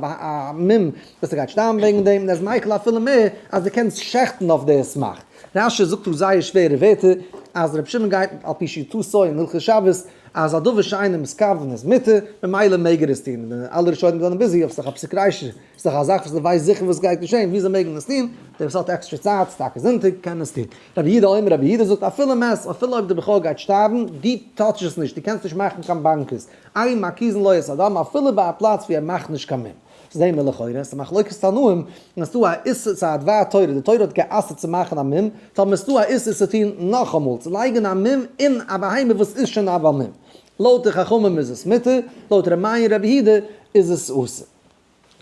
Speaker 1: מום וואס ער גייט שטארבן וועגן דעם, און ער איז מיקל אפילו מער אז דו קענסט שעכטן אויף די סמך. רש י זאגט דא זייער שווערע ווערטער אז רבי שמעון גייט על פי שיטתו אין הלכות שבת אז א דבר שאינו מסכוון איז מותר, ממילא מעג ער עס טון, און אלע ראשונים זענען ביזי אויף זיך אפסקריישן. איז דאך א זאך וואס דו ווייסט זיכער וואס גייט געשען, וויאזוי מעג מען עס טון, די וואס האט עקסטערע צייט, ס'טאקע זונטאג, קען עס טון. רבי יהודה אומר, רבי יהודה זאגט אפילו מעשר, אפילו אויב די בחור גייט שטארבן, דו טאטש עס נישט, דו קענסט נישט מאכן קיין באנקעס, עיין מקיזן לא יעשה אדם, אפילו ביי א פלאץ ווי ער מאכט נישט קיין מום. זעהן מיר לכאורה, עס איז מחלוקת תנאים, און עס איז דא א איסור, ס'איז א דבר תורה, די תורה האט גע'אסר'ט צו מאכן א מום, טאמער איז דא א איסור צו טון נאכאמאל, צו לייגן א מום אין א בהמה וואס איז שוין א בר מום. לויט די חכמים איז עס מותר, לויט רמא און רבי יהודה איז עס אסור.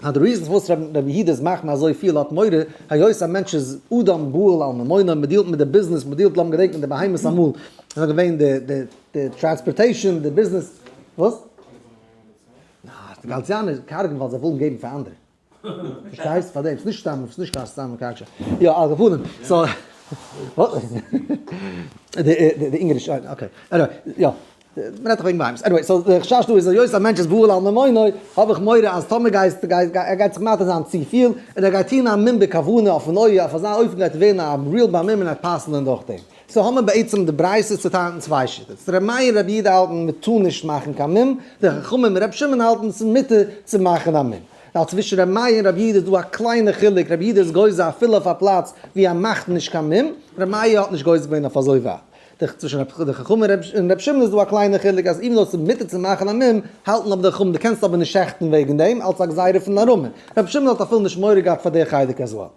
Speaker 1: אז די ריזן פארוואס רבי יהודה איז מחמיר אזוי פיל האט מורא היות א מענטש איז אדם בועל על ממונו מען דיעלט מיט די ביזנעס מען דיעלט לאמיר געדענקן די בהמות אמאל איז נאר געווען די די די טראנספארטעישאן די ביזנעס וואס? די גאלציאנער קארגן ווייל זיי ווילן געבן פאר אנדערע פארשטייסט פארדעם ס'איז נישט סתם ס'איז נישט קיין סתם קארג יא על כפנים סאו די אינגעריש אוקיי עניוועי יא. מען רעדט דאך וועגן בהמות. עניוועי, סאו די חשש דא איז היות א מענטש איז בועל על ממונו, האב איך מורא אז טאמער גייסטו גייסט ער גייט זיך מטעה זיין צופיל, און ער גייט טון א מום בכוונה אויפן אויער, אויף אזא אופן גייט ער ווערן א ריעל בהמום און ער גייט פסל'ען דורכדעם. סאו האמער בעצם די ברייתא צוטיילט אין צוויי שיטות. ר' מאיר ר' יהודה האלטן מען טאר נישט מאכן קיין מום, די חכמים ר' שמעון האלטן ס'איז מותר צו מאכן א מום. ווייל צווישן ר' מאיר און ר' יהודה איז דא א קליינע חילוק, ר' יהודה איז גוזר אפילו אויף א פלאץ ווי ער מאכט נישט קיין מום, ר' מאיר האט נישט גוזר געווען אויף אזוי ווייט. דאכט זיך צווישן רבי חכם און רבי שמעון איז דא א קליינע חילוק אז איווען דאו עס איז מותר צו מאכן א מום האלטן אבער די חכמים דו קענסט אבער נישט שעכטן וועגן דעם אלץ א גזירה פון די ארמים רבי שמעון האט אפילו נישט מורא געהאט פאר די חלק אז וואו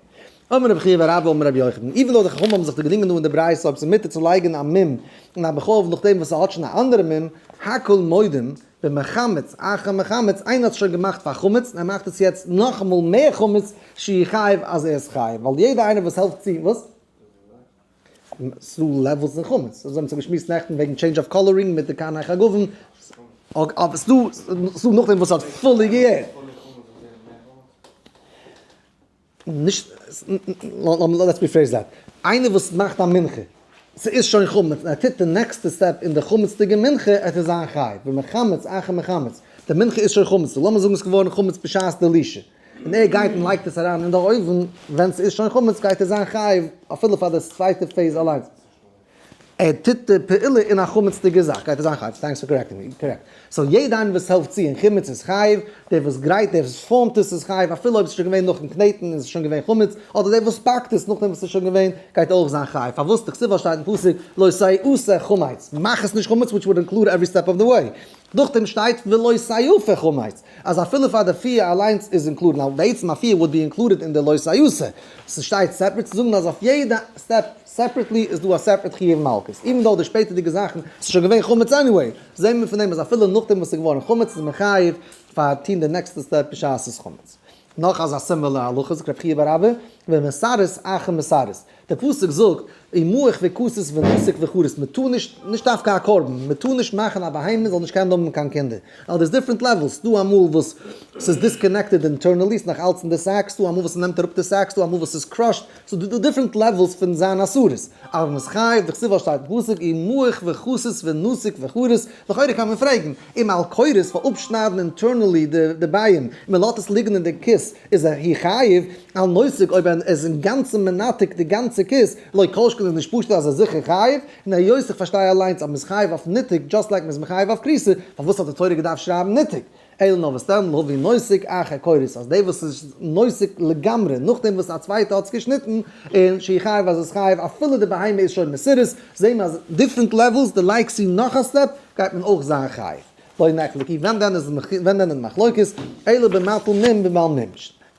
Speaker 1: אמר רבי חייא ורבא אמר רבי יוחנן איווען דאו די חכמים האבן זיך דערגרינגען דא אין די ברייתא אויב עס איז מותר צו לייגן א מום אין א בחלב נאכדעם וואס עס האט שוין א אנדערע מום הכל מודים במחמת אחר מחמת איינער האט עס שוין געמאכט פאר חמץ און ער מאכט עס יעצט נאכאמאל מער חמץ שיחייב אז ער איז חייב ווייל יעדער איינער וואס העלפט צו וואס? ס'איז דא לעוועלס אין חמץ, אזוי האבן זיך געשמועסט נעכטן וועגן טשעינדזש אוו קאלערינג מיט די קארנער חגבים, אבער ס'איז דא נאכדעם וואס האט פולי געהערט. נישט, לעטס ריפרעיז דעט, איינער וואס מאכט א מנחה, ס'איז שוין חמץ און ער טוט די נעקסטע סטעפ אין די חמצ'דיגע מנחה, ער טאר זיין חייב, ומחמץ אחר מחמץ, די מנחה איז שוין חמץ, לאמיר זאגן ס'איז געווארן חמץ בשעת די לישע. און ער גייט און לייגט עס אריין אין די אויוון, ווען ס'איז שוין חמץ גייט ער זיין חייב אפילו פאר די צווייטע פעיז אליינס. ער טוט די פעולה אין א חמצ'דיגע זאך גייט ער זיין חייב, טענקס פאר קארעקטינג מי, קארעקט. סאו יעדע איינער וואס העלפט צו אין חמץ איז חייב, דער וואס גרייט, דער וואס פארמט עס איז חייב אפילו אויב ס'איז שוין געווען נאכן קנעטן און ס'איז שוין געווען חמץ, אדער דער וואס פאקט עס נאכדעם וואס ס'איז שוין געווען גייט אויך זיין חייב, פארוואס? די כסדר שטייט אין פסוק לא סייעפה חמץ, מאך עס נישט חמץ וויטש וואלד אינקלוד עווערי סטעפ אוו די וועי, נאכדעם שטייט ולא סייעפה חמץ, אז אפילו פאר די פיע אליינס איז אינקלודעד, ווייל בעצם א פיע וואלט ווי אינקלודעד אין די לא סייעות'ע, ס'שטייט סעפערעט צו זאגן אז אויף יעדע סטעפ סעפערעטלי איז דא א סעפערעט חיוב מלקות, איווען דאו די שפעטערדיגע זאכן ס'איז שוין געווען חמץ עניוועי, זעהן מיר פון דעם אז אפילו נאכדעם וואס ס'איז געווארן חמץ איז מען חייב פאר טוהן די נעקסטע סטעפ בשעת ס'איז חמץ. נאך אזא סימילער הלכה זאגט רבי חייא בר אבא, ומסרת אחים מסרת, דער פסוק זאגט, און מוח וכוסית ונזק וחרית, מען טאר נישט, נישט דווקא א קרבן, מען טאר נישט מאכן א בהמה זאל נישט קענען האבן קיין קינדער, ווייל דאס דיפרענט לעוועלס, ס'דא אמאל וואס ס'איז דיסקאנעקטעד אינטערנעלי, ס'איז נאך אלץ אין די סעק, ס'דא אמאל וואס ס'נעמט אראפ די סעק, ס'דא אמאל וואס ס'איז קראשד, ס'דא דיפרענט לעוועלס פון זיין אסורות, אבער מ'איז חייב, דכתיב אז שטייט אין פסוק, און מוח וכוסית ונזק וחרית, לכאורה קען מען פרעגן, און מען על כורח'ס פאר אפשניידן אינטערנעלי די ביין און מען לאזט עס ליגן אין די כוס איז ער הי חייב על נויזק אויב ער איז אינגאנצן מנתק די גאנצע כוס לא כל שכן איז נישט פשט אז ער איז זיכער חייב און היות איך פארשטיי אליינס אז מען איז חייב אויף ניתוק דזשאסט לייק מען איז מחייב אויף כריסה פארוואס האט די תורה געדארפט שרייבן ניתוק אלא נאר וואס דען להווי נויזק אחר כורח'ס אז דער וואס איז נויזק לגמרי נאכדעם וואס א צווייטער האט עס געשניטן איז שהי' חייב אז עס חייב אפילו די בהמה איז שוין מסורס זעהן מיר אז דיפרענט לעוועלס די לייגסט צו נאך א סטעפ גייט מען אויך זיין חייב לא נחלק אי ווען דען איז ווען דען איז מחלוקת אלא במטל מום בבעל מום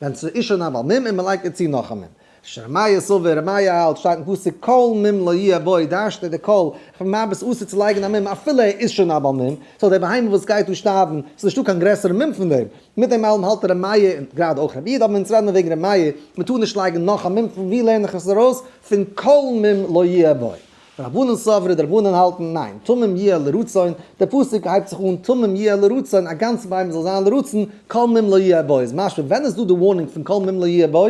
Speaker 1: ווען ס'איז אישור נאר בעל מום און מ'לייגט דער צו נאך א מום שרמיה סובר רמיה האלט שטייט אין פסוק כל מום לא יהיה בו דארשט ער די כל פון מה ביסט אסור צו לייגן א מום אפילו ער איז שוין א בעל מום סאו די בהמה וואס גייט דא שטארבן ס'איז נישטא קיין גרעסערע מום פון דעם מיט דעם אלעם האלט רמיה און גראדע אויך רביד אבער אונז רעדן וועגן רמיה מ'טאר נישט לייגן נאך א מום פון ווי לערן איך עס ארויס פון כל מום לא יהיה בו. רבנן סברא, די רבנן האלטן, ניין, תמים יהיה לרצון, די פסוק הייבט זיך אן תמים יהיה לרצון, א גאנצע בהמה זאל זיין לרצון, כל מים לא יהיה בו, איז משמע ווען איז דא די ווארנינג פון כל מים לא יהיה בו,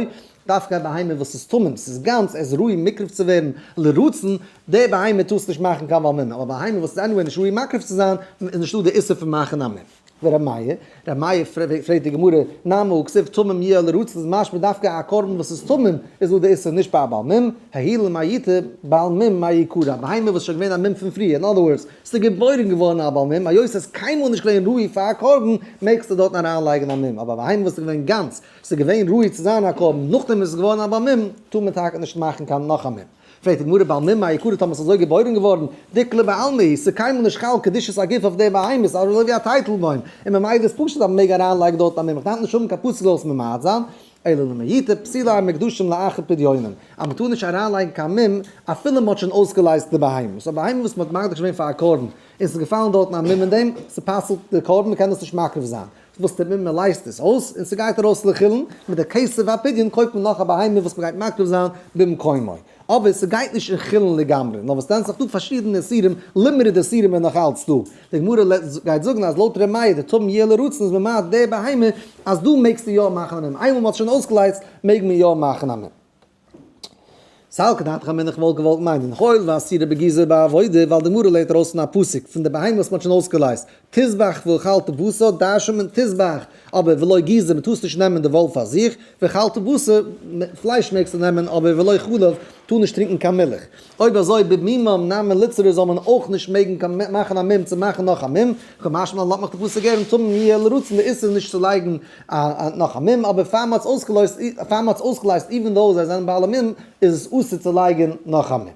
Speaker 1: דווקא א בהמה וואס איז תמים, ס'איז גאנץ, ער איז ראוי מקריב צו ווערן לרצון, די בהמה טארסט נישט מאכן קיין בר מינן, אבער א בהמה וואס איז עניוועי נישט ראוי מקריב צו זיין, איז נישטא די איסור פון מאכן א מינן. ורמיה, רמיה פרעגט די גמרא, נמי כסיף תמים יהיה על ערוץ איז משמע דווקא א קרבן וואס איז תמים איז דא די איסור נישט ביי א בעל מום, היי למה ית' בעל מום מאי יקרא, א בהמה וואס איז שוין געווען א מום פון פריער, אין אדער ווארדס, ס'איז געבוירן געווארן א בעל מום, היות ס'איז קיינמאל נישט געווען ראוי פאר א קרבן, מעגסטו דארטן אריין לייגן א מום, אבער א בהמה וואס איז געווען גאנץ, ס'איז געווען ראוי צו זיין א קרבן, נאכדעם איז עס געווארן א בעל מום, טאר מען טאקע נישט מאכן קיין נאך א מום. פרעגט די גמרא בעלמא מה יקרה טאמער ס'איז אזוי געבוירען געווארען, דקלי בעלמא היא, ס'איז קיינמאל נישט חל קדושת הגוף אויף די בהמות, אזוי ווי א טייטל בוים, און ממילא איז פשוט אז מ'מעג אריין לייגען דארטן אז מ'מעג דארף נישט האבען קיין פסול זאל עס ממעט זיין, אלא למעיטה פסילה און מקדשים לאחר פדיונם, אז מ'טאר נישט אריין לייגען קיין מום אפילו מ'האט שוין אויסגעלייזט די בהמות, א בהמה וואס מ'האט מקדיש געווען פאר א קרבן און ס'איז געפאלען דארטן א מום אין דעם, ס'פסל'ט די קרבן מ'קען דאס נישט מקריב זיין. וואס טוט מען? מען לייזט עס אויס און ס'גייט ארויס לחילן, מיט די כסף והפדיון קויפט מען נאך א בהמה וואס מען גייט מקריב זיין במקומו, אבער ס'גייט נישט אין חילן לגמרי, נאר וואס טענה'ט זיך דא פארשידענע איסורים, לימוד די איסורים איז נאך אלץ דא, די גמרא גייט זאגן אז לויט ר' מאיר די טמ י לרצון איז ממעט די בהמה, אז דא מעגסטו יא מאכן א מום, איינמאל מ'האט שוין אויסגעלייזט מעג מען יא מאכן א מום. ס'האלקט דעת חכמים איך וואלט געוואלט מיינען הואיל ואסירה בגזר בעבודה ווייל די גמרא לערנט ארויס פון א פסוק פון די בהמה וואס מ'האט שוין אויסגעלייזט תזבח ואכלת בשר דרש'נט מען תזבח אבער ולא גזר מ'טאר עס נישט נעמען די וואל פאר זיך ואכלת בשר פלייש מעגסטו נעמען אבער ולא חלב טאר נישט טרינקען קיין מילך אויב אזוי במימם נמי ליצרי זאל מען אויך נישט מעגן קיין מאכן א מום צו מאכן נאך א מום, כמשמע לן לאמעך די פסוק גערן טמא מ י לרצון די איסור נישט צו לייגן נאך א מום, אבער פאר מען האט עס אויסגעלייזט איווען דאו זיי זענען בעלי מום איז עס אסור צו לייגן נאך א מום.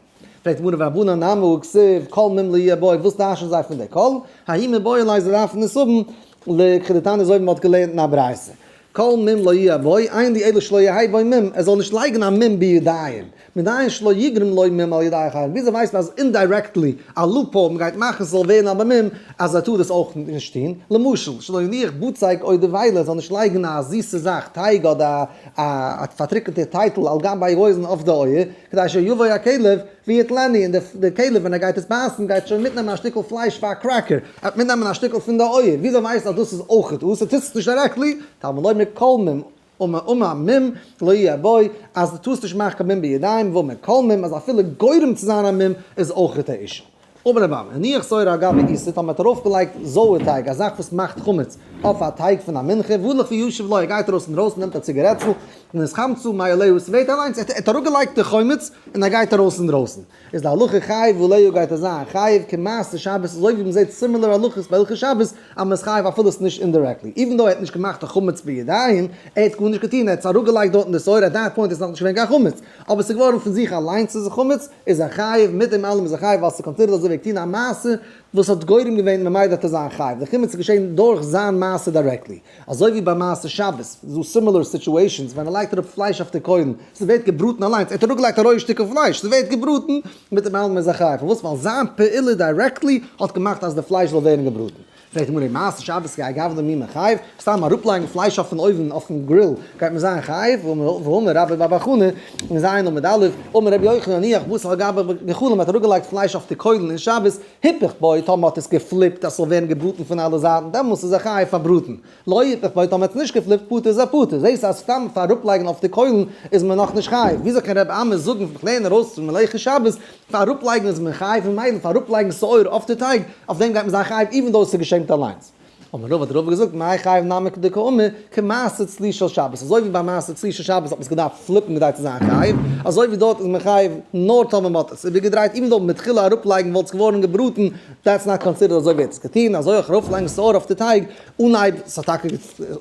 Speaker 1: פרעגט די גמרא והבנה נמי כסיב כל מום לי' בו, וואס טיישן זיי פון די כל? האי מ בויען לייז זיי דארפן עס האבן, לכ' די תנא זוי ווי מען האט געלערנט אין א ברייתא. כל מום לא יהיה בו עין די עדות שלא יהיה בו מום, ער זאל נישט לייגן א מום בידיים, מדאין שלא יגרום לו מום על ידי אחרים, וויאזוי ווייסט מען אז אינדיירעקטלי א לופהאול מ'גייט מאכן ס'זאל ווערן אבער מום אז ער טאר עס אויך נישט טון, למשל שלא יניח בוצייג אוי די וויילער, ער זאל נישט לייגן א זיסע זאך, טייג אדער א פארטריקענטע טייטל על גבי האוזן אויף די אויער, כדי שיבוא הכלב, ווי האט לעני און די כלב ווען ער גייט עס בייסן גייט שוין מיטנעמען א שטיקל פלייש פאר א קרעקער, ער וועט מיטנעמען א שטיקל פון די אויער, וויאזוי ווייסן אז דאס איז אויכעט דאס, ער טוט עס נישט דירעקטלי, טעמא לוי' מכל מום ומה ומה מום לא יהיה בו, אז דו טוסט נישט מאכן קיין מום בידיים ומה מכל מום אז אפילו גורם צו זיין א מום איז אויכעט א אישו. אמר רבא, הניח סוירא על גבי איסור, טאמער האט ער ארויפגעלייגט זויער טייג, א זאך וואס מאכט חמץ, אויף א טייג פון א מנחה, וואו לך וישב לו, ער גייט ארויס אינדרויסן נעמט א ציגערעטל, און איז חמצו מאי עליהו, ס'ווערט אליינס, ער האט אראפגעלייגט די חמץ, און ער גייט ארויס אינדרויסן, איז די הלכה חייב ועליהו גייט ער זיין חייב כמעשה שבת, אזוי ווי מ'זעט סימילער הלכות ביי הלכות שבת, אז מ'איז חייב אפילו ס'איז נישט אינדירעקטלי, איווען דאו ער האט נישט געמאכט א חמץ בידיים, ער האט גארנישט געטון, ער האט עס אראפגעלייגט דארט אין די סוירא, עט דעט פוינט איז נאכנישט געווען קיין חמץ, אבער ס'איז געווארן פון זיך אליינס איז עס חמץ, איז ער חייב, מיט דעם אלעם איז ער חייב ווייל ס'קאנסידערט אז ער וועגט טון א מעשה וואס האט גורם געווען ממילא וועט ער זיין חייב, די חימוץ איז געשען דורך זיין מעשה דירעקטלי, אזוי ווי ביי מעשה שבת איז דא סימילער סיטועשאנס ווען ער לייגט אראפ פלייש אויף די קוילן, ס'ווערט געבראטן אליינס, ער האט אראפגעלייגט א רויע שטיקל פלייש, ס'ווערט געבראטן, מיט דעם אלעם איז ער חייב, פארוואס? ווייל זיין פעולה דירעקטלי האט געמאכט אז די פלייש זאל ווערן געבראטן, פרעגט די גמרא איז מעשה שבת גייט גאב ד מי מחייב? סתם אראפלייגן פלייש אויפן אויוון אויפן גריל גייט מען זיין חייב? ואמר רבא בר בר חנה, אין ז' עמוד א', אמר רבי יוחנן הניח בשר על גבי גחלים מען האט אראפגעלייגט פלייש אויף די קוילן אין שבת, היפך בו טאמער מען האט עס געפליפט אז ס'זאל ווערן געבראטן פון אלע זייטן דעמאלס איז ער חייב פאר בראטן לויט איך ווייס האבן עטס נישט געפליפט פטור איז א פטור, זעהסט אז סתם פאר אראפלייגן אויף די קוילן איז מען נאך נישט חייב, וויאזוי קען רבי עמי זאגן ווען איך לערן ארויס פון מלאכי שבת פאר אראפלייגן איז מען חייב ממילא פאר אראפלייגן שעורה אויף די טייג אויף דעם גייט מען זיין חייב איווען דאו עס איז געשעמט אליינס. אמר רבא האט רבא געזאגט מאי חייב נמי כדקאמר כמעשה צלי של שבת אזוי ווי ביי מעשה צלי של שבת האט מען עס געדארפט פליפן כדי צו זיין חייב אזוי ווי דארט איז מען חייב נאר טאמער מען האט עס איבערגעדרייט איווען דאו מתחילה אראפלייגן וואלט עס געווארן געבראטן דעטס נאט קאנסידערד אזוי ווי עטס געטון אזוי אויך ארויפלייגן שעורה אויף די טייג אן אייד, עס האט טאקע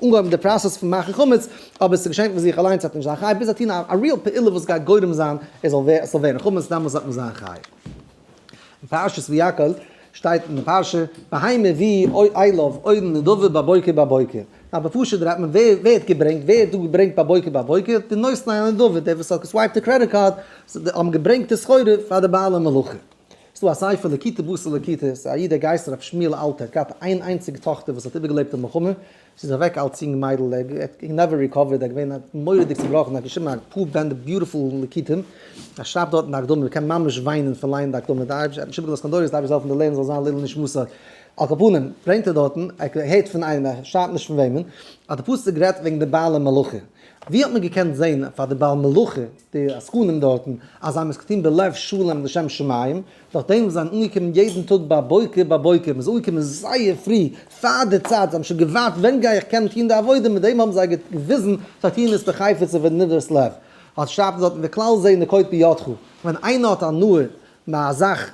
Speaker 1: אנגעהויבן די פראסעס פון מאכן חמץ, אבער עס איז געשען פון זיך אליינס, עס האט נישט זיין חייב ביז ער האט טון א ריעל פעולה וואס גייט גורם זיין עס זאל ווערן חמץ, דאמאלס האט מען זיין חייב. אין פרשת ויקהל שטייט אין די פרשה, בהמה ווי איילוב אויבן נדבה בבוקר בבוקר, א בפשט דרייט מען ווער ווערט געברענגט, ווער האט דא געברענגט בבוקר בבוקר, די נותני הנדבה, די וואס האט געסווייפט די קרעדיט קארד, האבן געברענגט די סחורה פאר די בעלי מלאכה. ס'איז דא א ספר לקיטי בשר לקיטיס, א איד דער גייסט ר' שמואל אלתר, האט געהאט איין איינציגע טאכטער וואס האט איבערגעלעבט די מלחמה, זי איז אוועק אלץ יונג מיידל, ער האט נעווער ריקאווערד, ער איז געווען מורא'דיג צובראכן, ער האט געשריבן א פאר בענדער ביוטיפול ליקוטים, ער שרייבט דארט אין די הקדמה, מ'קען ממש וויינען פון לייענען די הקדמה, די אייבערשטער האט נישט איבערגעלאזט קיין דורות, די אייבערשטער זאל העלפן די לערנער זאל זיין לעילא נשמתו. על כל פנים, ברענגט ער דארטן, ער הערט פון איינעם, ער שרייבט נישט פון וועמען, אז די פסוק רעדט וועגן די בעלי מלאכה, ווי האט מען געקענט זען פאר די בעל מלאכה, די עסקנים דארטן אז זיי האבן עס געטון בלב שלם לשם שמים, נאכדעם וואס זיי זענען אנגעקומען יעדן טאג בבוקר בבוקר, מ'איז אנגעקומען זייער פרי פאר די צייט, זיי האבן שוין געווארט ווען גיי איך קענען טון די עבודה, מיט דעם האבן זיי געוויזן זיי טוען עס בחפץ ובנברת לב. האט שרייבט אז האט מען כלל זה נקוט בידך, ווען איינער האט הנאה מיט א זאך,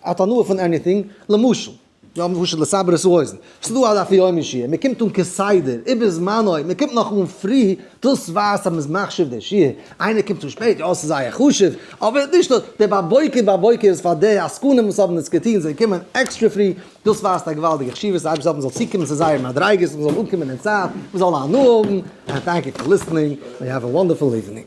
Speaker 1: האט הנאה פון עניטינג, למשל. יא מ פשוט לסבר את האוזן, ס'דא א דף היומי שיעור, מ'קומט אן כסדר, איבער זמנו, מ'קומט נאך אן פרי, דאס ווייזט אז מ'איז מחשיב די שיעור, איינער קומט צו שפעט, יא ס'איז זייער חשוב, אבער נישט דאס, די בבוקר בבוקר איז פאר די עסקנים וואס האבן עס געטון, זיי קומען עקסטרע פרי, דאס ווייזט א געוואלדיגע חשיבות, די אייבערשטער זאל מ'זאל צוקומען צו זייערע מדריגות, מ'זאל אנקומען אין צייט, מ'זאל הנאה האבן, ענד טענק יו פאר ליסטענינג, ענד יו העוו א וואנדערפול איווענינג.